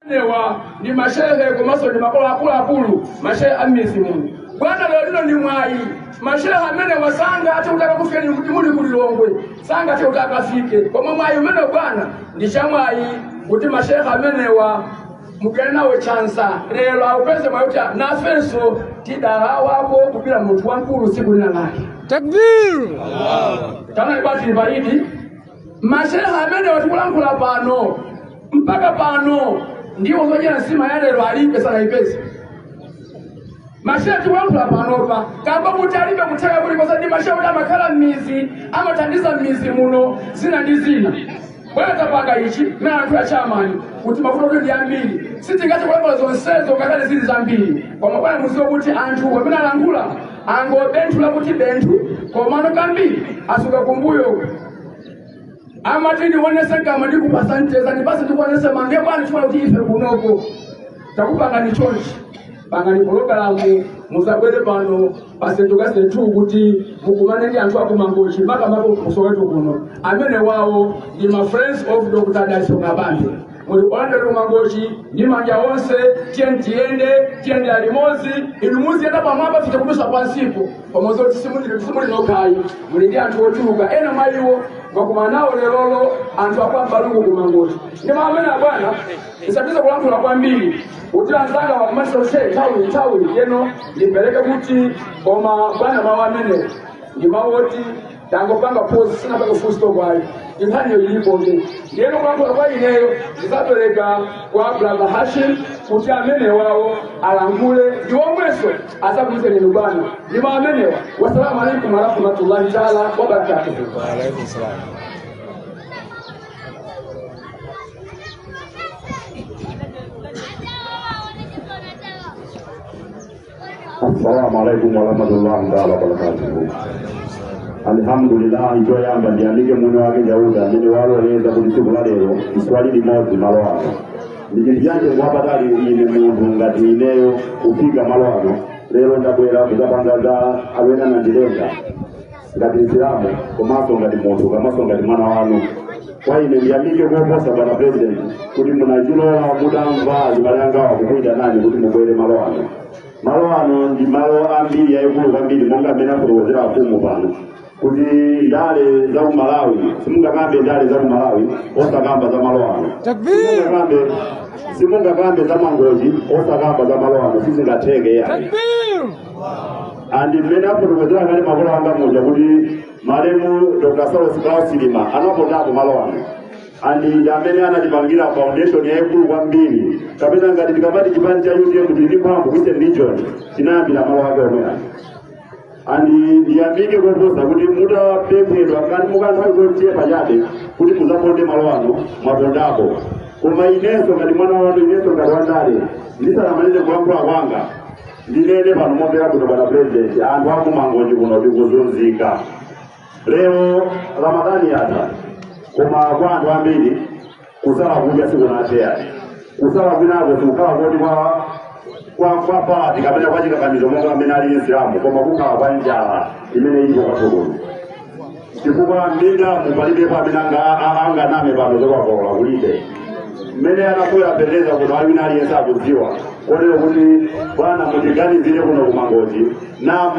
newa ndi mashehe komanso ndi makolo akuluakulu mashehe a m'midzi muno bwana lero lino ndi mwayi mashehe amenewa sangathe kuti akakufikeni komwe muli ku lilongwe sangathe kuti akafike koma mwayi umene bwana ndi chamwayi kuti mashehe amenewa mukumane nawo chansa lero apeze mwayi kuti nafenso tidalawapo kubwera munthu wamkulu tsiku lina lake Takbir! taona ibati lipaidi mashehe amenewa tikulankhula pano mpaka pano ndiwo zodyera nsima ya lero alibe sanayipeze mashehe tikulankhula panopa kamba kuti alibe kutheka kulikonse ndi mashehe oti amakhala m'midzi amathandiza m'midzi muno zina ndi zina bwana tapanga ichi mmene anthu achamani kuti mavuto oti ndi ambiri sitingathe kulankhula zonsezo ngakhale zili zambiri koma bwana mudziwe kuti anthu amene alankhula angobenthula kuti benthu komano kambiri atsala kumbuyo amati ndionetse kama ndikupatse mcheza ndipatse ndikuonetse mange bwana chifukwa choti ife kunoko takupemphani chonchi pangani pologalamu mudzabwere pano pasente kasetu kuti mukumane ndi anthu akumangochi makamaka kusoweto kuno amenewawo ndi ma friends of dr dalitso kabambe muli pano kumangochi ndi manja onse tiyeni tiyende tiyende limodzi inu muziyenda pamwamba ife tikudutsa pansipo pamodzi kuti simuli simuli nokhayi muli ndi anthu ochuluka ena mwa iwo mwakumana nawo lerolo anthu akwambaluku kumangochi ndi mawu amene abwana sinditha kulankhula kwambiri kuti anzanga wakumatisa kushe nthawi nthawi ndiyeno ndimpereke kuti koma bwana mawu amene ndi mawu oti tangopanga pozi sindinaike full stop ayi inkhaniyo ilipobe ndiyeno kulankhula kwa ineyo ndidzapereka kwa brother hashim kuti amenewawo alankhule ndi omwenso atsazikane nanu bwana ndi mawu amenewa wasalamu alaikum warahmatullahi taala wabarakatuhu Waalaikum salaam. assalamu alaikum warahmatullahi taala wabarakatuhu alhamdulillah choyamba ndiyamike mwini wake chauta amene waloleza kuti tsiku la lero ndizakhale limodzi malo ano ndi chinthu cha mtengo wapatali ine munthu ngati ineyo kufika malo ano lero ndabwera kudzapanga za amene anandilenga ngati msilamu komanso ngati munthu komanso ngati mwana wanu kwa ine ndiyamike koposa bwana president kuti munachilola mutamva azibale angawa kukuyitanani kuti mubwere malo ano malo ano ndi malo ambiri aakulu kwambiri monga amene afotokozera afumu pano kuti ndale za ku malawi simungakambe ndale za ku malawi osakamba za malo ano simungakambe simungakambe za mangochi osakamba za malo ano sizingatheke yayi and mmene afotokozera kale makolo anga muja kuti malemu dr saulos klaus chilima anapondapo malo ano and ndi amene anatipangira foundation yayikulu kwambiri kapena ngati tikamati chipani cha utm tili ndi mphamvu western region chinayambira malo ake omwe ano and ndiyambike koposa kuti mutapemphedwa kani kwa kanthawi kochepa chabe kuti mudzaponde malo ano mwapondapo koma inenso ngati mwana wanu inenso ngati wandale ndisanamalize kulankhula kwanga ndinene pano momvera bwino bwana purezidenti anthu aku mangochi kuno tikuzunzika lero ramadhani yatha koma kwa anthu ambiri kusala kudya sikunathe kusala kwinako sikukhala kuti kwa kwa kwa pati kapena kwa chikakamizo monga mmene alili chisilamu koma kukhala kwa njala imene ilipo kwathu kuno chifukwa minda mulibe pamene anga- a- anganame pano zokakolola kulibe mmene mwabwera president kuno aliyense wina aliyense akudziwa kotero kuti bwana mutiganizire kuno ku mangochi ndipo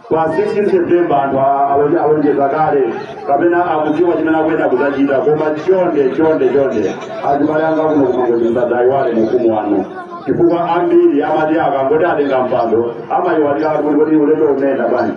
pa 16 september anthu a- alonje- alonjeza kale kapena akudziwa chimene akuyenera kudzachita koma chonde chonde chonde azibale anga kuno ku mangochi musadzaiwale ufumu wanu chifukwa ambiri amati akangoti atenga mpando amayiwalira kuti kuti ulendo umene bwanji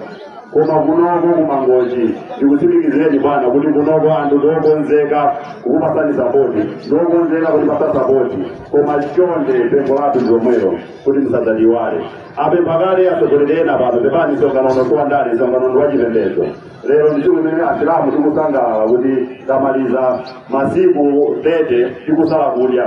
koma kunoko ku mangochi ndikutsimikizireni bwana kuti kunoko anthu ndiokonzeka kukupatsani sapoti ndiokonzeka kutipatsa sapoti koma chonde pempho lathu ndilomwelo kuti musadzatiiwale apempha kale atsogoleri ena pano pepani msonkhano uno si wa ndale msonkhano ndi wachipembedzo lero ndi tsiku limene asilamu tikusangalala kuti tamaliza masiku 30 tikusala kudya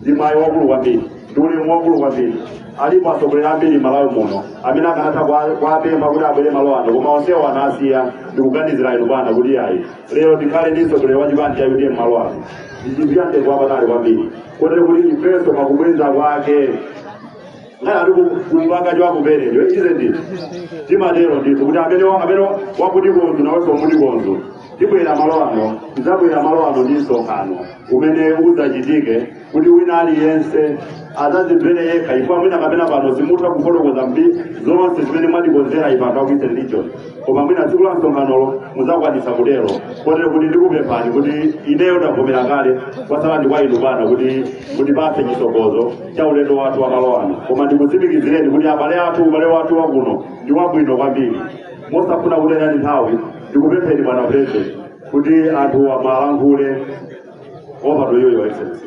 ndi mwayi waukulu kwambiri ndi ulemu waukulu kwambiri alipo atsogoleri ambiri malawi muno amene akanatha kwa- kuwapempha kuti abwere malo ano koma onsewo anasiya ndikuganizira inu bwana kuti ayi lero tikhale ndi mtsogoleri wa chipani cha utm malo ano ndi chinthu cha mtengo wapatali kwambiri kotero kuti ifenso pakubweza kwake chiyao ali kumpanga chakupelecho ichize ndithu timatero ndithu kuti amene wa- amene wakukonza nawenso umamukonza tibwera malo ano tidzabwera malo ano ndi msonkhano umene udzachitike kuti wina aliyense adzazimvere yekha ifeyo mwina kapena pano simutha kufotokoza zonse zimene mwatikonzera ife anthu aku eastern region koma mwina tsiku la msonkhanolo mudzakwanisa kutero kotero kuti ndikupemphani kuti ineyo ndavomera kale kwatsala ndi kwa inu bwana kuti mutipatse chitsogozo cha ulendo wathu wa malo ano koma ndikutsimikizireni kuti abale athu ubale wathu wakuno ndi wabwino kwambiri mosafuna kutaya nthawi ndikupempheni bwana president kuti anthu muwalankhule over to you your excellency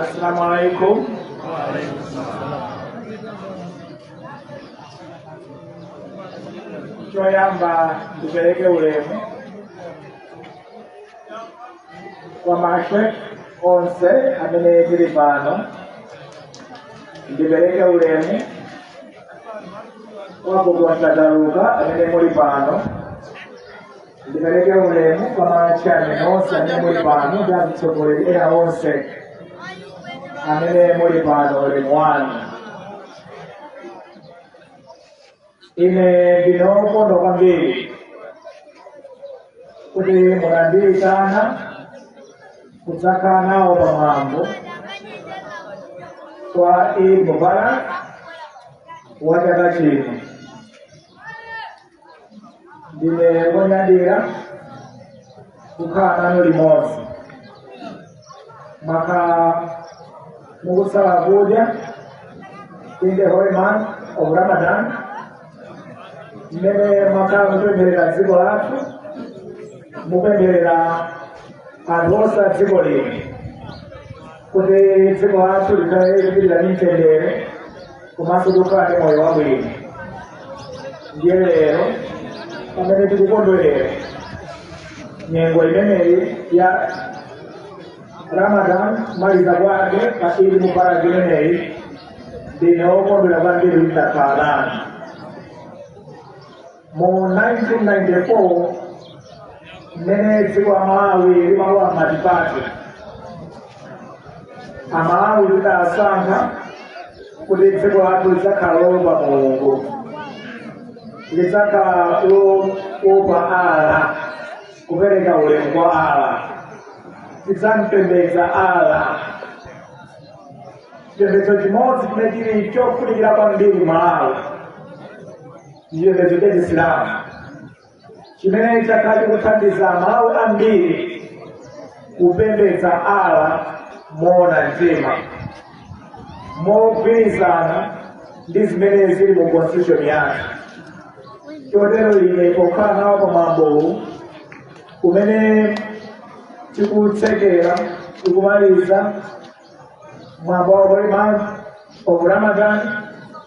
Assalamu alaikum. Choyamba ndipereke ulemu kwa mashekh onse amene tili pano, ndipereke ulemu wanga kwa asataluka amene muli pano ndipereke ulemu kwa ma chair onse amene muli pano ndi azitsogoleri ena onse amene muli pano ulemu wanu ine ndine wokondwa kwambiri kuti munandiitana kudzakhala nawo pamwambo wa Eid Mubarak wa chaka chino. Ndine wonyadira kukhala nanu limodzi. Mwakhala mukusala kudya in the holy month of Ramadan mmene mwakhala mukupempherera dziko lathu mukupempherera anthu onse a dziko lino kuti dziko lathu likhale likupitirira ndi mtendere komanso tikhale ndi moyo wabwino ndiye lero pamene tikukondwerera nyengo imeneyi ya ramadan kumaliza kwake pa eid mubarak imeneyi ndine wokondwera kwambiri kukhala nanu mu 1994 mmene dziko la malawi limalowa m'matipati amalawi tidasankha kuti dziko lathu lidzakhala loopa mulungu lidzakhala loopa allah kupereka ulemu kwa allah lidzampembedza allah chipembedzo chimodzi chimene chili chofunikira kwambiri mmalawi ndi chipembedzo cha chisilamu chimene chakhala chikuthandiza malawi ambiri kupembedza allah moona mtima mogwirizana ndi zimene zili mu constitution yathu chotero ine pokhala nawo pa mwambowu umene tikutsekera tikumaliza mwambo wa holy month of ramadan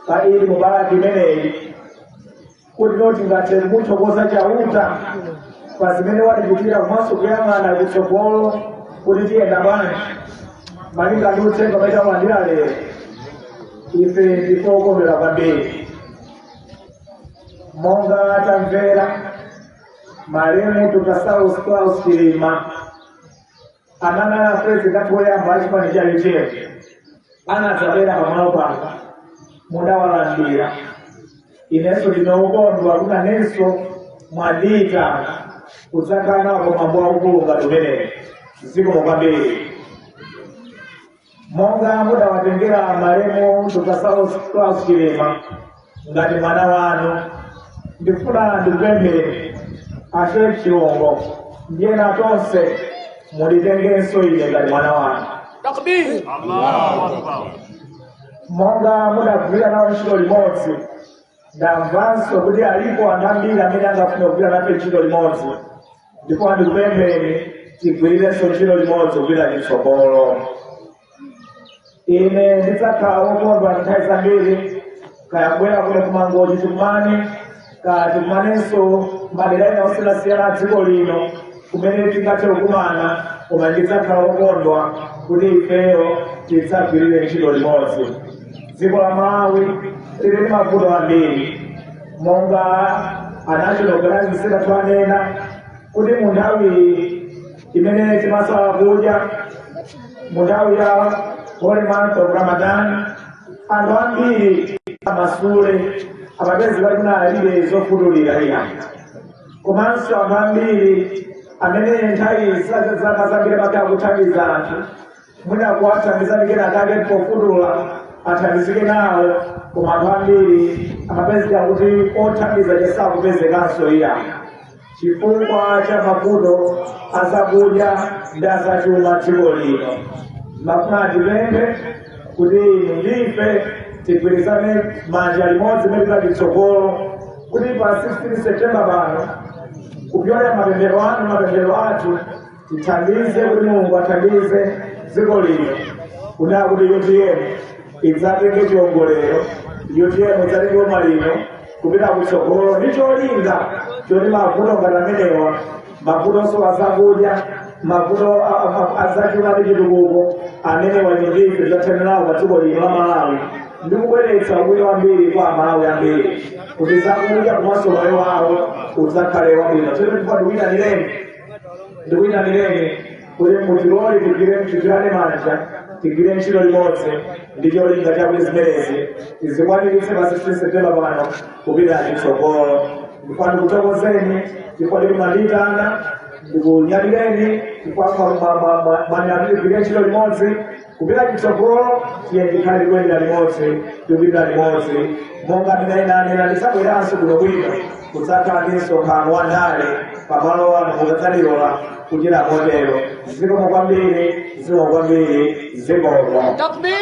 pa idi mubarak imeneyi kuti tingathe kumuthokoza chauta pa zimene watichitira komanso kuyang'ana kutsogolo kuti tiyenda bwanji malinga ndi uthenga umene talandira lero ife ndife okondwera kwambiri monga tamvera malemu dr saulos klaus chilima amene anali president athu oyamba achipani cha utm anadzabwera pamalo pano mudawalandira inenso ndine wokondwa kuti nanenso mwandiitana kudzakhala nawo pamwambo waukulu ngati umenewu zikomo kwambiri monga mudawatengera malemu dr saulos claus chilima ngati mwana wanu ndifuna ndikupempheni a sheikh chilongo ndiyena tonse munditengenso ine ngati mwana wanu Takbir. monga mudagwira nawo ntchito limodzi ndamvanso kuti alipo anthu ambiri amene angafuna kugwira nafe ntchito limodzi ndipo ndikupempheni tigwirirenso ntchito limodzi kupita chitsogolo ine ndidzakhala wokondwa nthawi zambiri kaya kubwera kuno ku mangochi tikumane kaya tikumanenso madera ena osiyanasiyana a dziko lino kumene tingathe kukumana koma ndidzakhala wokondwa kuti ifeyo tidzagwirire ntchito limodzi dziko la malawi lili ndi mavuto ambiri monga a national chair anena kuti mu nthawi imene timasala kudya mu nthawi ya holy month of ramadan anthu ambiri amasala amapezeka kuti alibe zofutulira iya komanso anthu ambiri amene nthawi zaka zambiri amakhala kuthandiza anthu mwina kuwathandiza ndi kena kake pofutula athandizike nawo koma anthu ambiri amapezeka kuti othandiza sakupezekanso iya chifukwa cha mavuto azakudya ndi azachuma dziko lino ndimafuna ndipemphe kuti inu ndi ife tigwirizane manja limodzi mekati tsogolo kuti pa 16 septemba pano kupyolera mapemphero anu mapemphero athu tithandize kuti mulungu athandize dziko lino kunena kuti utm idzatenge chiwongolero utm idzatenge boma lino kupita kutsogolo ndi cholinga choti mavuto ngati amenewa mavutonso azakudya mavuto a- a- a- azachuma ndi chitukuko amenewa ndife tidzathanirawo pa dziko lino la malawi ndi kubweretsa ubwino wambiri kwa amalawi ambiri kuti zakudya komanso moyo wawo udzakhale wabwino tsono ndikupaduwina nileni ndikuyitanireni kuti mutilole tigwire mchitirane manja tigwire ntchito limodzi ndi cholinga chakuti zimenezi tizikwaniritse pa 16 septemba pano kupita chitsogolo ndipo ndikuthokozeni ndipo ndikunyadileni chifukwa mwanyadira tigwire ntchito limodzi kupita kutsogolo tiye tikhale tikuyenda limodzi tikupita limodzi monga ndidanena tidzabweranso kuno bwino kudzakhala ndi msonkhano wa ndale pamalo ano mukadzatilola kuchita motero zikomo kwambiri zikomo kwambiri zikomo Takbir!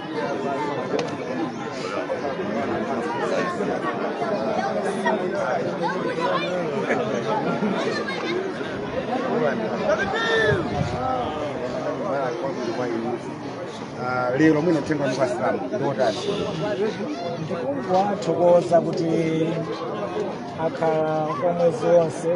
Ah, lero mwina uthenga wa asilamu ndiotani ndikungowathokoza kuti akhala kwa mwezi wonse